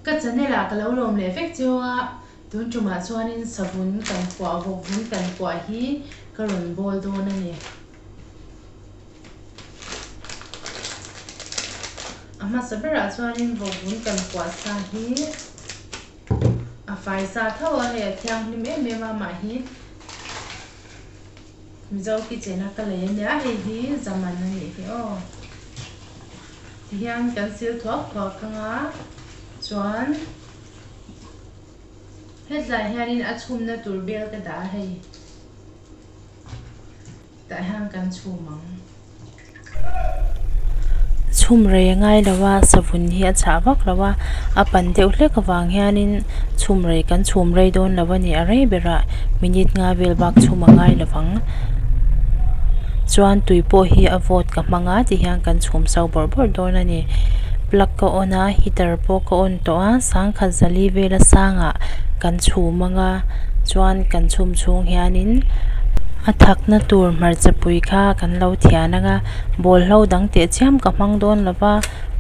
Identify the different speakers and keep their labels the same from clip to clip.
Speaker 1: Ka chanel ah ka lo lawm leh vek cio a, tun tumah chuanin savun kan kuah vawk vun kan kuah hi ka rawn bawl dawn a ni. A hmasa berah chuanin vawk vun kan kuah sa hi. A fai sa tho a, hei a thianghlim em em a, mah hi Mizo kitchen a ka lei a nia, hei hi zaman a nih hi aw. Ti hian kan sil thuak thuak thang a, chuan hetlai hian in a chhumna tur vel ka dah a hei. Tah hian kan
Speaker 2: chhum ang. Chhum rei ngai lo a, savun hi a chhah vak lo a, a pan deuh hlek avang hianin chhum rei kan chhum rei dawn lo a ni. A rei berah minute nga vel bak chhum a ngai lovang. Chuan tui pawh hi a vawt ka hmang a tih hian kan chhum sau bawrh bawrh dawn a ni. Plug ka on a, heater pawh ka on. tawh a, sangkhat zali vela sangah kan chhum anga chuan kan chhum chhung hianin a thakna tur hmarchapui kha kan lo thian anga bawlhlo dang teh chiam ka hmang dawn lova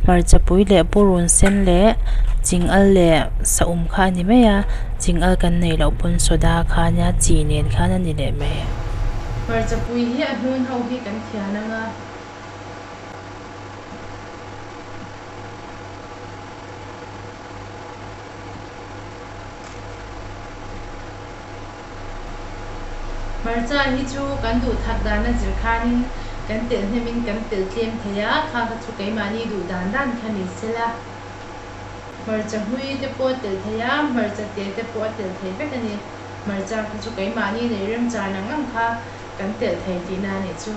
Speaker 2: hmarchapui leh purun sen leh chingal leh sahum kha a ni mai a chingâl kan nei loh pawn soda kha nia chi nen khan a ni leh mai hmarchapui hi a hnun ho hi
Speaker 1: kan thian anga. Hmarcha hi chu kan duh that dan a zir khan in kan telh hnem in kan telh tlem thei a, kha kha chu keimahni duh dan dan kha ni se la, hmarcha hmui te pawh a telh thei a, hmarcha te te pawh a telh thei vek a ni. Hmarcha kha chu keimahni nei rem char nang nang kha kan telh thei tihna a nih chu.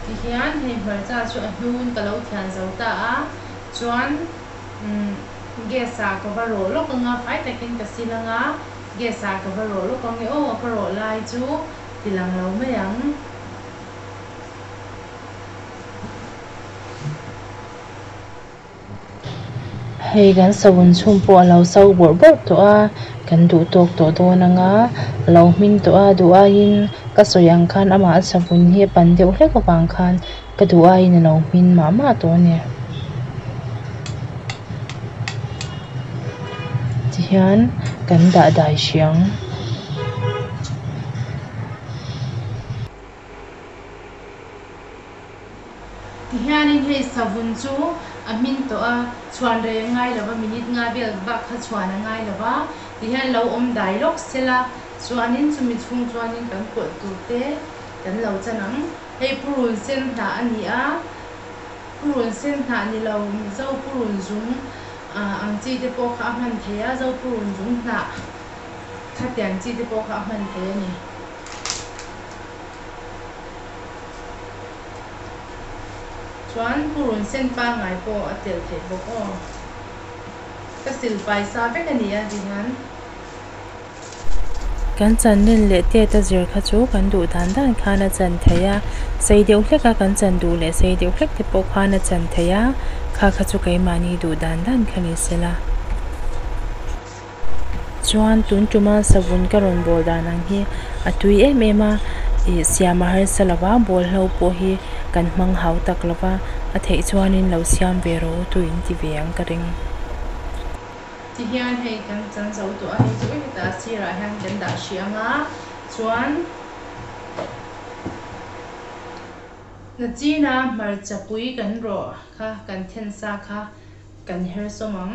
Speaker 1: Ti hian hei hmarcha chu a hnun ka lo thian zo ta a, chuan umm gas ah ka va rawh lawk ang a, fai takin ka sil anga gas ah ka va rawh lawk ang e, aw ka rawh lai chu ti lang lo mai ang.
Speaker 2: Hei kan savun chhung pawh a lo sau bawrh bawrh tawh a, kan duh tawk tawh dawn ang a, a lo hming tawh a, duh aiin ka sawi ang khan amah a savun hi a pan deuh hlek avang khan ka duh aiin a lo hmin mah mah tawh a ni. Tihian kan dah dai hria ang.
Speaker 1: Tihianin hei savun chu a hmin tawh a, chhuan rei a ngai lova, minute nga vel bak kha chhuan a ngai lova, tihian lo awm dai lawk sela chuanin chumi chhung chuanin kan pawlh tur te kan lo chan ang. Hei purun sen hnah a ni a, purun sen hnah ni lo, zo purun zum ang chi te pawh kha a hman thei a, zo purun zum hnah thatian chi te pawh kha a hman thei a ni. Chuan pu run sen pangngai pawh a telh theih bawk aw. Ka silpai sa vek a nia ri han.
Speaker 2: Kan chan nen leh tet a zir kha chu kan duh dan dan khan a chan thei a. Sei deuh hlek a kan chan duh leh sei deuh hlek te pawh khan a chan thei a. Kha kha chu keimahni duh dan dan kha ni sela. Chuan tun tuma savun ka rawn bawl dan ang hi a tui em em a, ih siama harsa lova bawl hlo pawh hi kan hmang hau tak lo va, a theih chuanin lo siam ve ro tu in ti ve ang ka ring.
Speaker 1: Ti hian hei kan chan zo tawh a ni chu hetah a sirah hian kan dah hrih ang a, chuan Nachina hmarcha pui kan rawh kha kan then sa kha kan her sawm ang.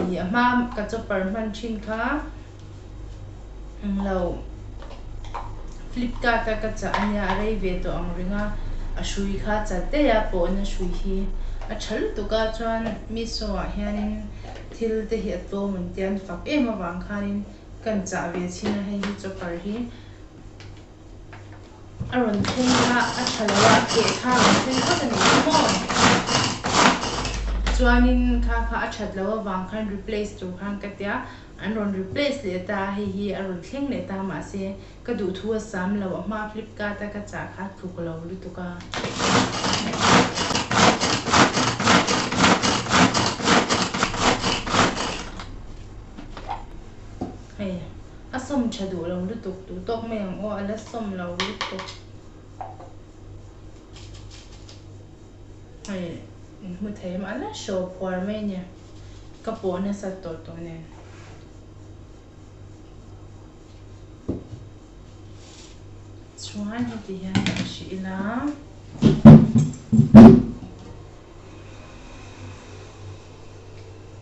Speaker 1: ih a hma ka chopper hman thin kha englo flipkart a ka chah a nia a rei ve tawh ang ring a a hrui kha chal daih a pawhna hrui hi a tha lutuk a chuan meesho ah hianin thil te hi a tlawm an tia an fak em avang khanin kan chah ve chhin a hei hi chopper hi. a rawn thleng a, a tha lo a, keh kha a rawn thleng phawt a nih hi maw? Chuanin kha kha a that loh avang khan replace tur khan ka tia, an rawn replace leh ta a, hei hi a rawn thleng leh ta mahse ka duhthu a sam lo, a hma flipkart a ka chah kha a tluk lo lutuk a. Hei. A sawm tha duh lo lutuk, duh tawk mai ang aw, a la sawm lo lutuk. Hei, in hmu thei em, a la hraw phuar mai nia, ka pawh nasat tawh tawh nen. Chuan heti hian ka hre ila,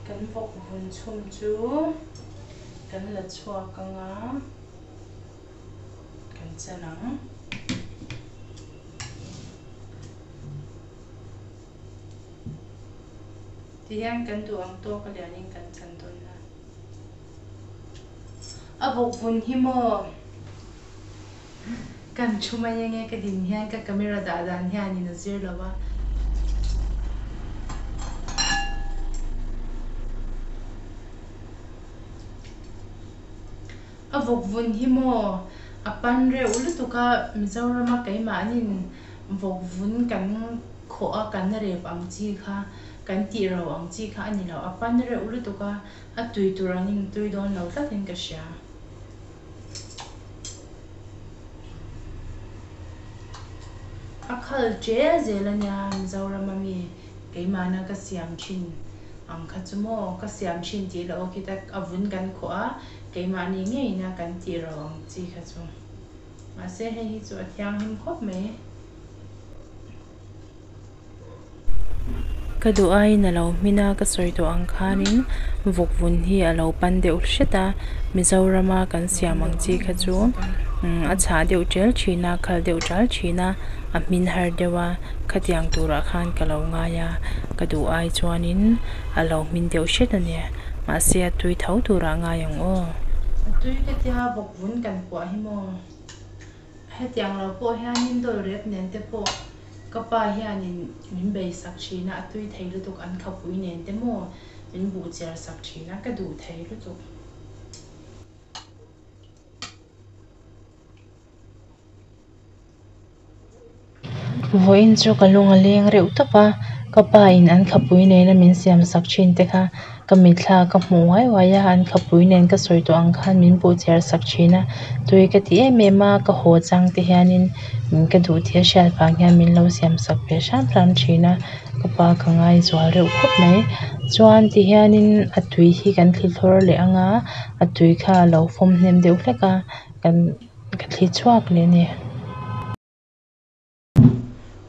Speaker 1: kan vawk vun chhum chu kan la chhuak anga kan chen ang. Tihian kan duh ang tawk a lian in kan chan dawn a. A bawk vun hi maw? Kan thu mai eng e ka din hian ka camera dah dan hian in a zir lo a. A bawk vun hi maw? A pan reuh lutuk a Mizoram a keimah in bawk vun kan khawh a kan rep ang chi kha kan tih rau ang chi kha a ni lo a pan reuh lutuk a. A tui tur an in tui dawn lo tlat in ka hria. A khal ṭial zel a nia Mizorama mi keimahna ka siam ṭhin ang kha chu maw ka siam ṭhin tih la awk i tak a vun kan khawh a keimah ni ngei ina kan tih rau ang chi kha chu. Mahse hei hi chu a thianghlim khawp mai.
Speaker 2: Ka duh aiin a lo hmin a, ka sawi tawh ang khanin vawk vun hi a lo pan deuh hret a, Mizorama kan siam ang chi kha chu umm a chhah deuh ṭial ṭhin a, khal deuh ṭial ṭhin a, a hmin har deuh a, khatiang turah khan ka lo ngai a, ka duh ai chuanin a lo hmin deuh hret a ni, mahse a tui tho turah ngai ang aw. A tui ka
Speaker 1: tia vawk vun kan kuah hi maw. Hetiang lo pawh hianin dawl rep nen te pawh ka pa hianin min beisak thin a, a tui thei lutuk an khapui nen te maw min buh chiar sak thin a, ka duh thei lutuk.
Speaker 2: Vawiin chu ka lung a leng reuh tawp a, ka pain an khapui nena min siam sak thin te kha ka mitthla ka hmuh uai uai a, an khapui nen ka sawi tawh ang khan min buh chhiar sak thin a, tui ka ti em em a, ka haw chang te hianin ka duh tih a hriat vang hian min lo siam sak ve hram hram thin a, ka pa ka ngaizual reuh khawp mai. Chuan ti hianin a tui hi kan thli thlawr leh ang a, a tui kha a lo fawm hnem deuh hlek a, kan ka thli chhuak leh a ni.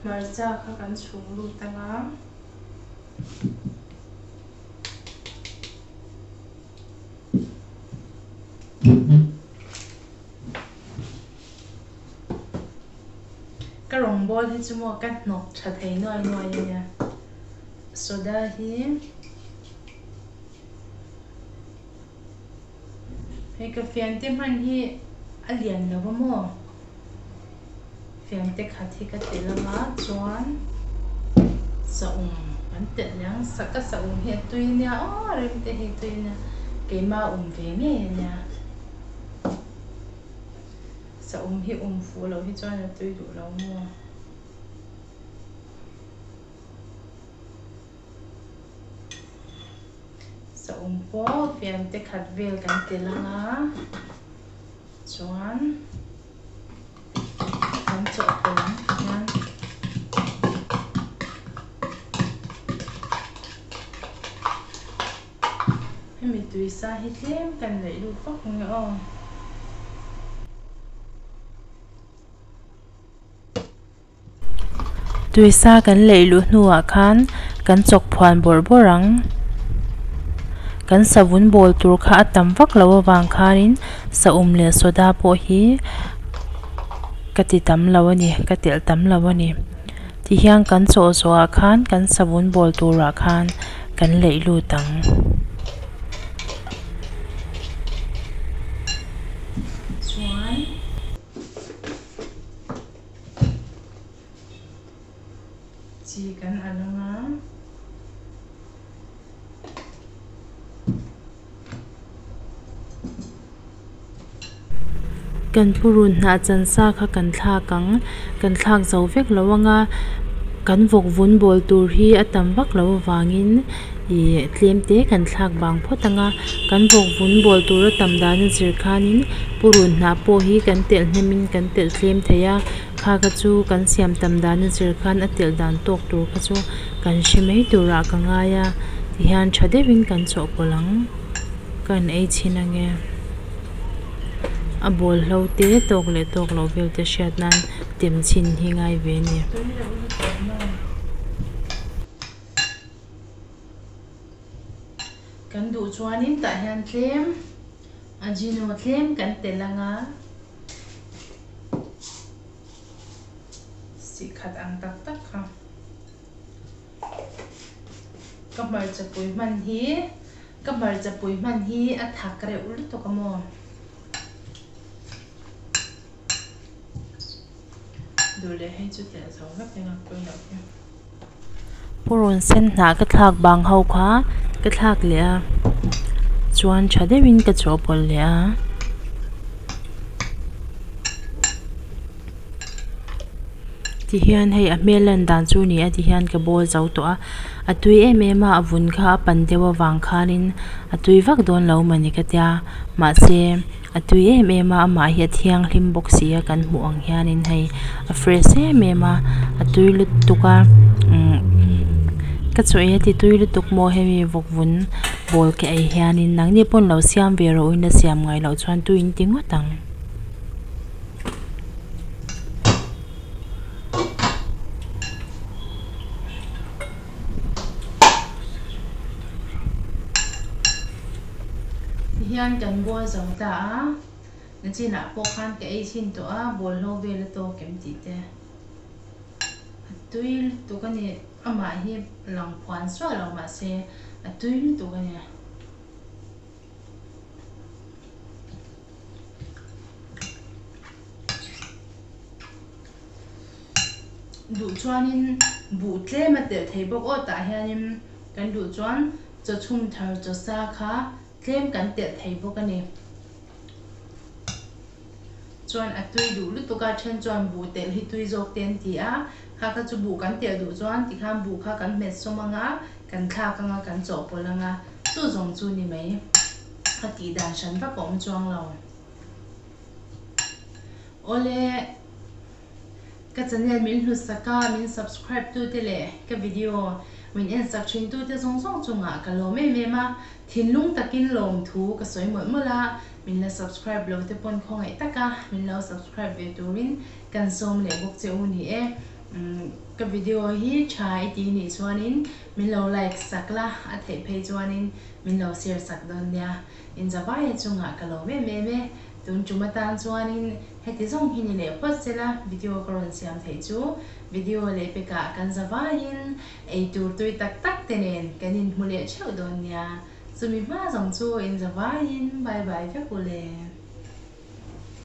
Speaker 1: hmarcha kha kan chhung lut a nga. Ka rawngbâwl hi chu maw ka hnawk ṭha thei nuai nuai a nia. Soda hi Hei ka fian te hman hi a lian lo va maw? Fian te khat hi ka telh anga chuan sahum kan telh leh ang, sa ka sahum hi a tui ania aw rem te hi a tui ania keima a awm ve ngei ania sahum hi awm fuh loh hi chuan a tui duh lo maw. Sawmpawh fiante khat vel kan ti lang a, chuan kan chawh pe lam hian hemi tuisa hi tlem kan neih lut vak mai aw. Tuisa kan leih luh hnuah khan kan
Speaker 2: chawk phuan bawrh bawrh ang. Kan savun bawl tur kha a tam vak lo avang khanin sahum leh soda pawh hi ka ti tam lo a ni, ka telh tam lo a ni. Tihian kan chaw zawhah khan kan savun bawl turah khan kan leih lut ang. Chuan.
Speaker 1: Chi kan a lawng a.
Speaker 2: Kan purun hnah chansa kha kan thlak ang, kan thlak zo vek lo ang a, kan vawk vun bawl tur hi a tam vak lo avangin. ih tlem te kan thlak vang phawt ang a kan vawkvun bual tura tam dan a zir khanin purun hnah pawh hi kan telh hnem in kan telh tlem thei a kha kha chu kan siam tam dan a zir khan a telh dan tawk tur kha chu kan hre mai turah ka ngai a ti hian tha deuh in kan chawhpawlh ang kan ei chhin ang e a bual hlo te tawk leh tawk loh vel te hriat nan tem chhin hi ngai ve a ni.
Speaker 1: Kan duh chuanin tah hian tlem ajino tlem kan telh anga sih khat ang tak tak kha ka hmarchapui hman hi ka hmarchapui hman hi a thak reuh lutuk a maw. Dur leh hei chu tleh zo hlek eng
Speaker 2: a pawi loh hi. Purun sen hnah ka thlak bang ho kha ka thlak leh a, chuan tha deuh in ka chawhpawlh leh a. Ti hian hei a hmel lan dan chu ni a ti hian ka bawl zo tawh a, a tui em em a a vun kha a pan deuh avang khan in a tui vak dawn lo mah ni ka tia mahse-- A tui em em a, amah hi a thianghlim bawk si a, kan hmuh ang hianin hei a fresh em em a, a tui lutuk a umm ka chawih e titui lutuk maw hemi vawk vun bawl ke ei hianin nang ni pawn lo siam ve rawh uaina siam ngai loh chuan tuiin ti ngawt ang.
Speaker 1: Tihian kan ball zawng ta a, a chinah pawh khan ka ei chhin tawh a, ball hlo vel a tawk em tih te. A tui lutuk a ni, amah hi a lang phuan suah lo mah se a tui lutuk a ni. duh chuanin buh tlema telh thei bawk aw tah hianin kan duh chuan chaw chhum thar chaw sa kha tlem kan telh thei bawk a ni chuan a tui duh lutuk a then chuan buh telh hi tui zawk te an ti a kha kha chu buh kan telh duh chuan ti khan buh kha kan hmet sawm ang a kan thlak ang a kan chawhpawlh ang a chu zawng chu ni mai a tih dan hran vak a awm chuang lo. Awle ka channel min hlusak a, min subscribe tu te leh ka video min en sak thin tu te zawng zawng chungah ka lawm em em a, thinlung takin lawm thu ka sawi mawlh mawlh a, min la subscribe lo te pawn khawngaih taka min lo subscribe ve turin kan sawm leh bawk che u ni e. Umm ka video hi tha i ti nih chuanin min lo like sak la, a theih phei chuanin min lo share sak dawn nia. Inza baia chungah ka lo mem em e, tun tum atan chuanin heti zawng hi ni leh phawt sela video ka rawn siam theih chu, video leh pekah kan za baiin eitur tui tak tak te nen kan inhmu leh theuh dawn nia, chumi hma zawng chu inza baiin bye bye vek u le.